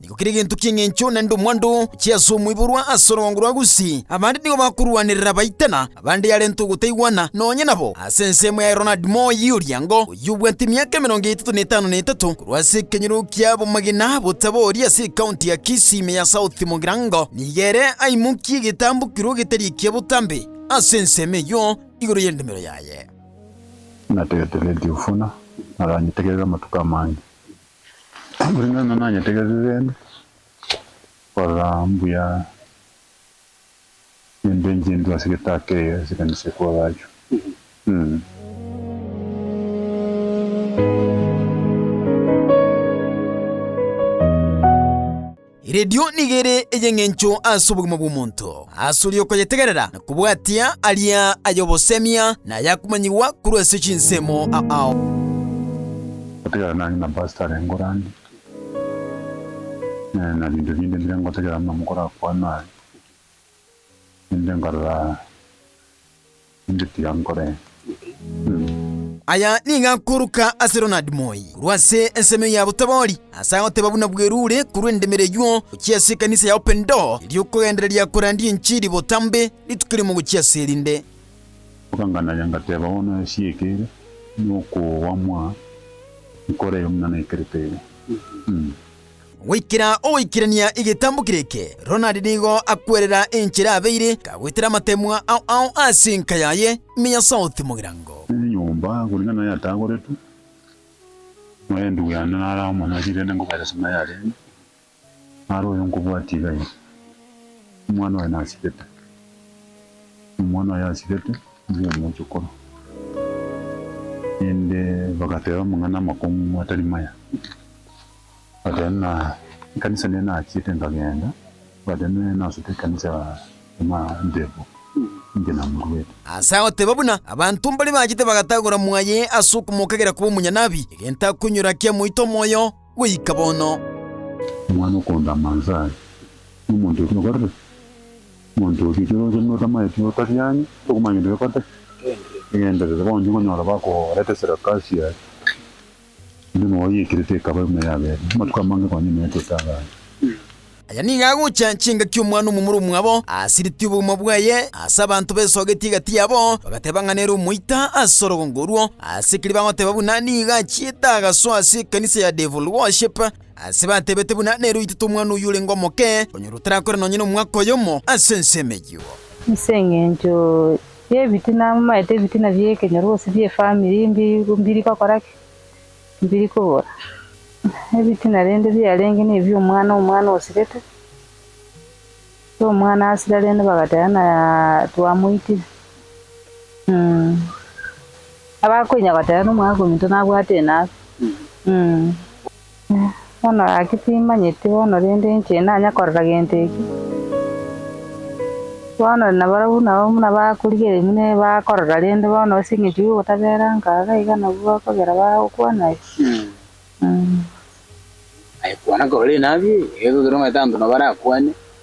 Nigo kera egento ki'engencho naende omwando ochie ase omoiborwa ase orwango rwa Gusi. Abande nigo bakorwanerera abaite na abande yarenta ogotaigwana nonya nabo ase ensemo ya Ronald Moore y'Oriango, oyio obwate emiaka emerongo etato na etano na etato, korwa ase ekenyoro ki'abamagena botabori ase ekaonti ya Kisii ime ya South Mugirango. Nigo ere aimokie egetambukero getari ekia botambe ase ensemo eyio igoro y'endemero yaye. Nategeteretie obufuna, naranyitegerere amatuko amange. Omonene nonya nanyetegete rende, korora mbuya chimbe nchintwe ase egetaka eke ase ekanisa ya kwa Gachu. Mh. Erio nigo ere ey'engencho ase obogima bw'omonto, ase oria okoyetegerera na kobwatia aria ay'obosemia na ayakomanyigwa korwa ase chinsemo. Gotegerera nari na pastor are ngorani na binto binde bire ngotegerera buna mokorakwana aye, rende nkarora. Inche tiga nkoree. Aya nigo akoruka ase Ronald Moi korwa ase ensemo eye ya botabori, ase agoteba buna bwerure korwa endemero eyio gochia ase ekanisa ya Open Door eria okogendereria korandia enchiri botambe rituko riomo gochia ase erinde. Bakanganaya ngateba bono esi eke ere nokoamwa nkore eye omwana aikerete ere. Goikera ogoikerania egetambo kere eke, Ronald nigo akwerera enchera abeire, kagwetera amatemwa ao ao ase enka yaye ime ya South Mogirango. Enyomba koreng'ana na yatagoretwe, omorendu yane nare amo nari rende nkobaeresa ng'a yarenge, nare oyo nkobwatia iga iga. Omwana oye nasibete, omwana oye asibete nigo omochokoro. Rende bagateba mang'ana amakong'u atari maya. Bagateba ng'a ekanisa nere nachiete nkagenda, bagateba nere nasute ekanisa ya Emantebo inche namoruete. Ase agoteba buna abanto mbare bachete bagatagora mwaye ase okomokagera koba omonyanabwi, egento akoinyora kiamoita omoyo goika bono. Omwana okonto a Manzai, nomonto oria okorire, omonto oria ekero ocha buna otamaeti otariani, tokomanya gento gekoteba, egenderere, bono tokonyora bakoreta esarakasi yaye. Enyomba yao yaikerete ekaba euma y'abeene, amatuko amange konya ime yatiete abaana. Aya nigo agocha chingaki omwana omomura omwabo asiritie obogima bwaye ase abanto besogetie egati yabo, bagateba ng'a nere omoita ase orogongo orwo. Ase ekeri bagoteba buna nigo achiete agaso ase ekanisa ya Devil Worship, ase batebete buna nere oitete omwana oyio orenge omoke, onyorwa otarakore nonye nomwaka oyomo ase ensemo eyio. Ase engencho Ebitina, momaete ebitina bi'ekenyoro gose bi'efamiri mbiri gokora ki? Mbiri kobora. Ebitina rende biarenge nebi'omwana, omwana osirete, ekero omwana asira rende bagateba ng'a twamoitire. Abakoinya goteba ng'a omwana okominto nabwate enabe. Bono gaki timmanyeti bono, rende inche inanya korora gento eke. Bono nabarabwo nao buna bakorigereria buna ere bakorora, rende bono ase eng'encho y'ogotabera nkaga iga nabwo bakogera bagokwana aye. Aye kwana korore nabi, ekero okere omanyete abanto nabo barakwane.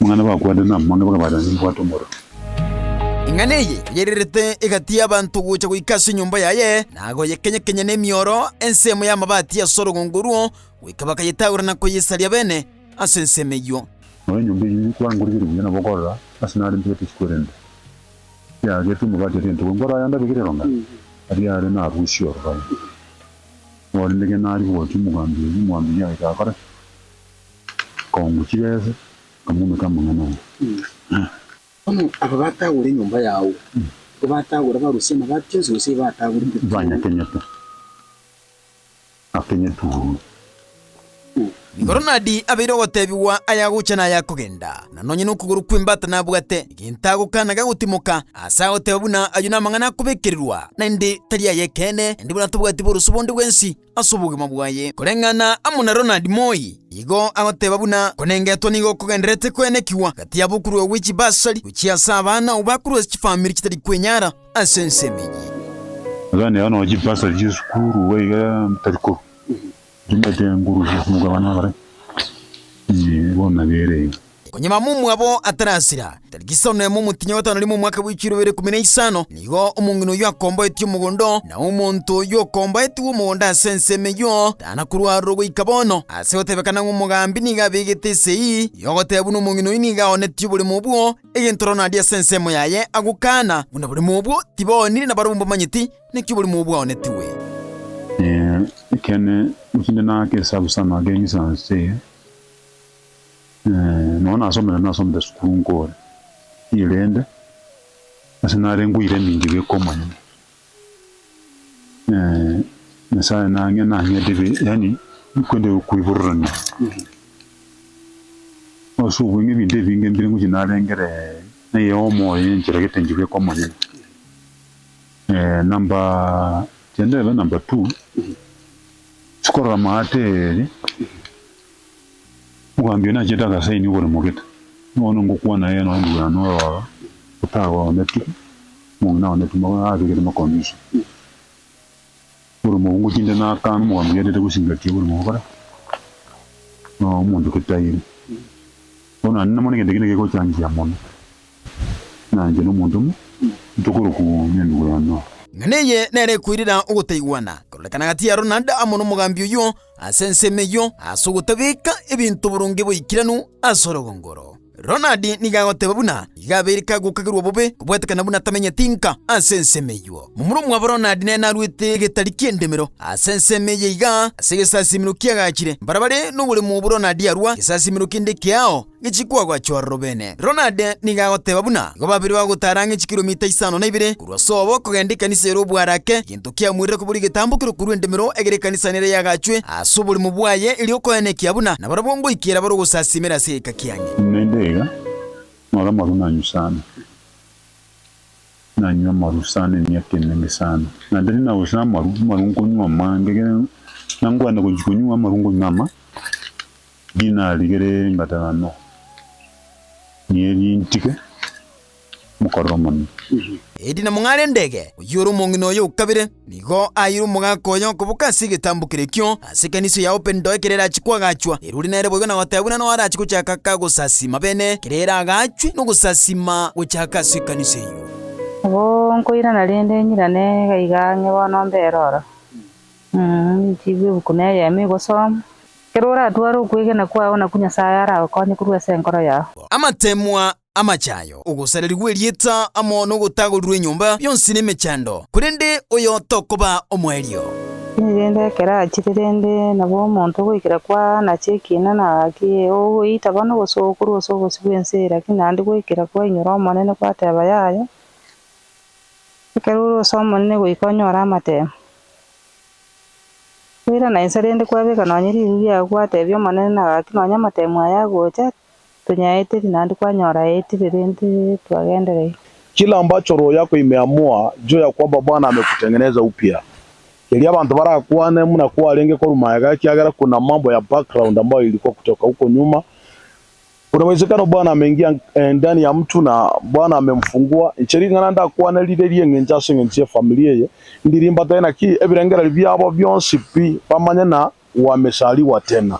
Mang'ana bakwanire namange bakabata nimbwate omorero. Ing'ana eye yairerete egati y'abanto gocha goika ase enyomba yaye, na agoyekenya-kenya nemioro ensemo y'amabati ase orogongo ruo, goika bakayetagora na koyesaria bene ase ensemo eyio. Nao enyomba eyio ere kwangorigeria buya nabo okorora ase nare mpete chikwerente, eagerete amabati aria entogo enkoro ayande abegire erong'ana, aria are narusie ororoi. Nore nege nari gocha omogambi oyio, omogambi oyio agaika agakora ki? Kongo chibesa nkamoumeka amang'ana aye. Bono aba batagure enyomba yao, nigo batagure abarusia na baria chionsi gose igo batagure intete chiao? Banyakenyete, akenyetwe oria. Igoro nadi abeire ogotebigwa ayagocha na ayakogenda, na nonye nokogoro kw'embata nabwate, egento agokana gagotimoka, aase agoteba buna ayio namang'ana akobekererwa, naende tari ay'ekeene, naende buna tobwati borosio bonde bwensi. ase obogima bwaye, koreng'ana amo na Ronald Moi, igo agoteba buna konengetwa nigo kogendererete koenekigwa gati yabo korwa gwe chibasari gochia ase abana ao bakorwa ase chifamiri chitari kwenyara ase ensemo eye. Iga nero nonya chibasari chi'esukuru iga iga tari korwa chimaete ngorusia ase mokabane bare, bono nabere iga. Onye mama omwabo atarasira, tariki isano na emo omotienyi o gatano rimo omwaka bwe chiro ibere ikuumi na isano, nigo omong'ina oyio akomboetie omogondo oo, na omonto oyio okomboetigwe omogondo ase ensemo eyio tana korwa aroro goika bono, ase gotebekana ng'a omogambi nigo abegete esegi y'ogoteba buna omong'ina oyio nigo aoonetie oboremo obwo, egento roro naria ase ensemo yaye agokaana buna boremo obwo tibaoonire na barabwo mbamanyeti naki oboremo obwo bwaoonetigwe. Ee, ekeene, gose inde nake esabu sana ake eng'isanso eye, Nonya nasomete nasomete sukuru nkore ire rende ase narengwe ire eminto iga ekomanywa. Nyasaye nang'e nang'ete be yaani kwende koibororania ase obweng'e ebinto ebinge mbire ngochia narengere eyomo oye enchera gete enchera ekomanywa. Number tiende ebe number two, chikorora amaate ere. Omogambi oyo nachete agasaini oboremo gete. Bono ngokwana ee, nonya ndigwena nororo, otagwe oonetwe, omong'ina oonetwe, magoro aa abegete makonge ise. Oboremo obwo ngochinde naakana omogambi oyaetete gosingatia oboremo bokore na omonto getairi. Bono naende namona egento kende gekochanchia mono, naanche na omonto omo, tokorokwa Nendugweno. Ng'a neye nere ekoirera ogotaigwana, kororekana gati yaro naende amo nomogambi oyio, ase ensemo eyio ase ogotabeka ebinto boronge boikeranu ase orogongo oro. Ronald nigo agoteba buna igo abeire kagokagerwa bobe kobwetekana buna tamenyeti nka ase ensemo eyio. Momura omwabo Ronald nere narwete egetari ki'endemero ase ensemo eye igaa ase egesasiimero kiagachire. Mbarabare noboremo obwo Ronald arwa, egesasiimero kende keao, Ng'echie kwagwa chororo beene. Ronade nigo agoteba buna igo babere bagotaara ng'echie kilomita isano na ibere korwa sobo okogenda ekanisa ere obwarake, egento kiamoirire kobua egetambo ekero korwa endemero egere ekanisa nere yagachwe ase oborimo bwaye erio okoenekia buna nabarabwo ngoikera bare ogosasiimera ase egeka kiane. Naende iga nore amaru nanyusana, nanywe amaru sana emiaka emenge sana. Naende riria nagochire amaru, amaru nkonywa amange, ekero nangwenerete gochia konywa amaru nkonywa ama. Dinari gere gatano niye rintige mokorero omonene. Eedi na mong'are endege, oyio ore omong'ina oye o kabere, nigo aeire omogaka oye okoboka ase egetambo kere ekio, ase ekanisa ya Open Door ekero erache koagachwa. Erori nere boigo na goteebwa nano arache gochaka ka gosasiima bene ekero eraagachwe na ogosasiima gochaka ase ekanisa eyio. Nabo nkoirana rende nyirane gaiga ng'e bono mbere oro, ninchiigwe ebuku na eyemo igosomwa. Ekero oratware okwegena kwao nakwo Nyasae aragokonye korwa ase enkoro yao. Amateemwa, amachayo, ogosareria gw'erieta amo nogotagorirwa enyomba, bionsi nemechando, korende oyo tokoba omoerio. Tindi rende ekero achire, rende nabo omonto goikera kwaana ase ekiina na gaki, ogoita bono gosooka korwa ase obosio bw'ense eye, lakini naende goikera kwainyora Omonene gwateeba yaye, Ekero ore ase Omonene goika onyore amateemwa, Toira na inse rende kwabeka nonye riru riao gwatebia omonene na gaki nonye amatemu aya agocha tonyaeteri naende kwanyora aetire rende twagenderei. Kila ambacho roho yako imeamua juu ya kwamba Bwana amekutengeneza upya. Keria abanto barakwane muna kwarenge korwa magega ekiagera kuna mambo ya background ambayo ilikuwa kutoka huko nyuma. Kuna uwezekano Bwana ameingia ndani ya mtu na Bwana amemfungua, inche ring'ana ndakwane rire ri'eng'encho ase eng'encho y'efamilia eye, ndi rimbata ye naki ebirengererio biabo bionsi pi, bamanye na gwamesarigwa tena.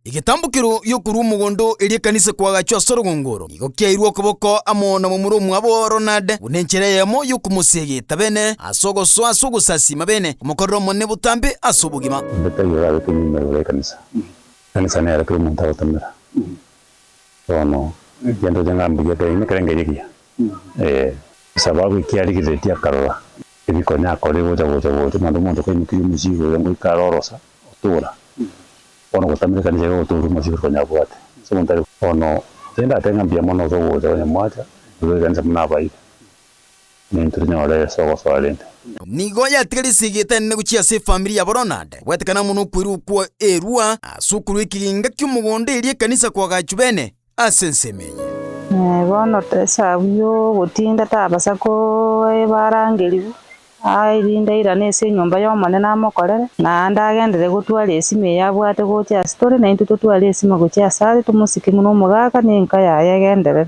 Egetambokero gi'okorua omogondo erio ekanisa ekwagachwa ase orogongo oro nigo kiairwe okoboko amo na momura omwabo Ronald, buna enchera eyemo y'okomosegeta bene ase ogosoa ase ogosasiima bene, komokorera Omonene botambe ase obogima. Mbete igoro agete nyuma igoro y'ekanisa. Ekanisa nero kera omonto agotomera bono egento gete ng'a mbuya kera ime kera engencho ekiya ee. Esababu ekia arigereretie akarora ebikonya akore gocha gocha gocha mambia omonto kaimokirie omosigo oyo ngoika are orosa otora bono gotamera ekanisa iga gotoria omosigo konya abwate ase omonto are. Bono tindate ng'a mbuya mono gose ogocha konya mwacha igoro y'ekanisa buna abaire Inee ntirinyore Yeso ogosoa rende? Nigo yatiga risegi etenene gochia ase efamiri ya Boronade, goetekana mono okwerwa okwo erwa ase okorwa ekegenga ki'omogondo eria ekanisa koagachwa bene ase ensemo eye. Ee, bono tesabu y'ogotinda tabasa koeba arangerigwe aa, erinde airane ase enyomba y'Omonene amokorere. Naende agenderere gotwara esimo eye abwate gocha ase tore, naintwe totware esimo gochia asare, tomosike buna omogaka na enka yaye egenderere.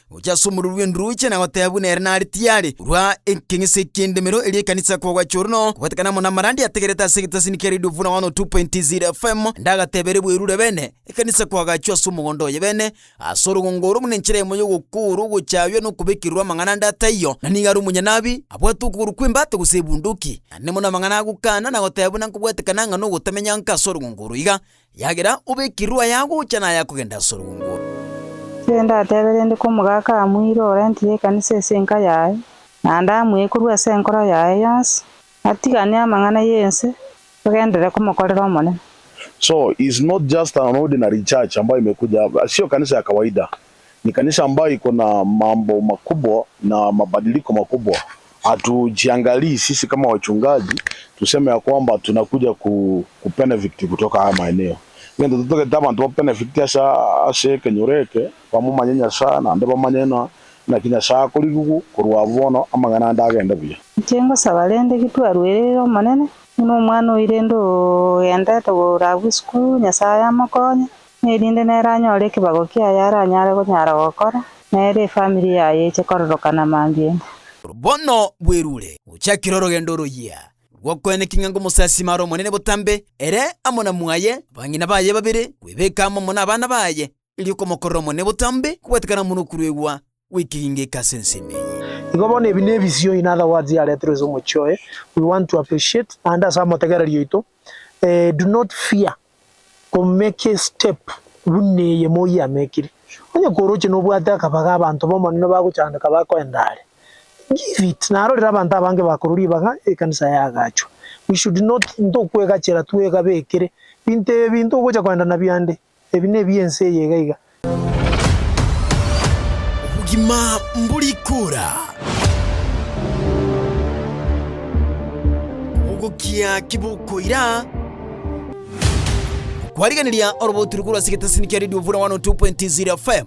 Ogochia ase omoruru bw'endroche na goteebwa buna ere nare tiare korwa ekeng'ese eki'endemero eria ekanisa kogacha ororo no kobwatekana amo namarandi ategerete ase egetasini kia Radio 101.0 FM naende agateebere bwerure bene ekanisa koagachwa ase omogondo oye bene ase orogongo oro buna enchera emo y'ogokoorwa ogochaywa na okobekererwa amang'ana ande ataiyo na nigo are omonyanabi abwate okogoro kw'embata gose ebunduki. Naende mono amang'ana agokana na goteeba buna nkobwatekana ng'a nogotamenya nka ase orogongo oro iga Yagera obekirwe ayagocha na ayakogenda ase orwongo. Ere ndatebe rende komogaaka amuire orentire ekanisa ase enka yaye, naende amuye korwa ase enkoro yaye yonsi, atigane amang'ana y'ense, agenderere komokorera Omonene. So is not just an ordinary church ambayo imekuja, sio kanisa ya kawaida. Nekanisa ambayo iko na mambo makubwa na mabadiliko makubwa. Hatujiangalii sisi kama wachungaji tuseme ya kwamba tunakuja ku, ku benefit kutoka haya maeneo. Ngento totagete abanto ba benefit ase ase ekenyoro eke bamomanye Nyasaye naende bamanye ng'a naki Nyasaye akorigigwa korwa abwo bono amang'ana ande agende buya. Inche ngosaba rende gitwaruereire Omonene, buna omwana oirende ogendete korabwo esukuru, Nyasaye amokonye. Erinde nere anyore ekebago kiaye aranyare gonyara gokora, na ere efamiri yaye eche kororokana mambia 'ime. Bono bwerure gochakire orogendo royia rw'okoenekia ng'a ngomosasima are omonene botambe, ere amo na mwaye, abang'ina baye babere, kwebeka amo amo nabana baye, erio komokorera omonene botambe kobwetekana mono okuruegwa. gwekiringeka ase ensemo eye. Igo bono ebi nebisio in other words yareterwe ase omochie oye, we want to appreciate naende ase amotegereri oito do not fear ko make a step buna eye moyia amekiri. Onye koroche nobwate akabaga abanto bomonene bagochandeka bakoenda are, give it naro rire abanto abange bakorwa ribaga ekanisa yaagachwa. We should not ntokwegachera twegabekere binto ebi ntogocha koenda nabio ande. Ebi nebi ense eye iga iga. Obogima mbori kora. Ogokia kibokoira. Kwarigeneria orobotu rukuru ase getasini kia Radio Vura 102.0 FM.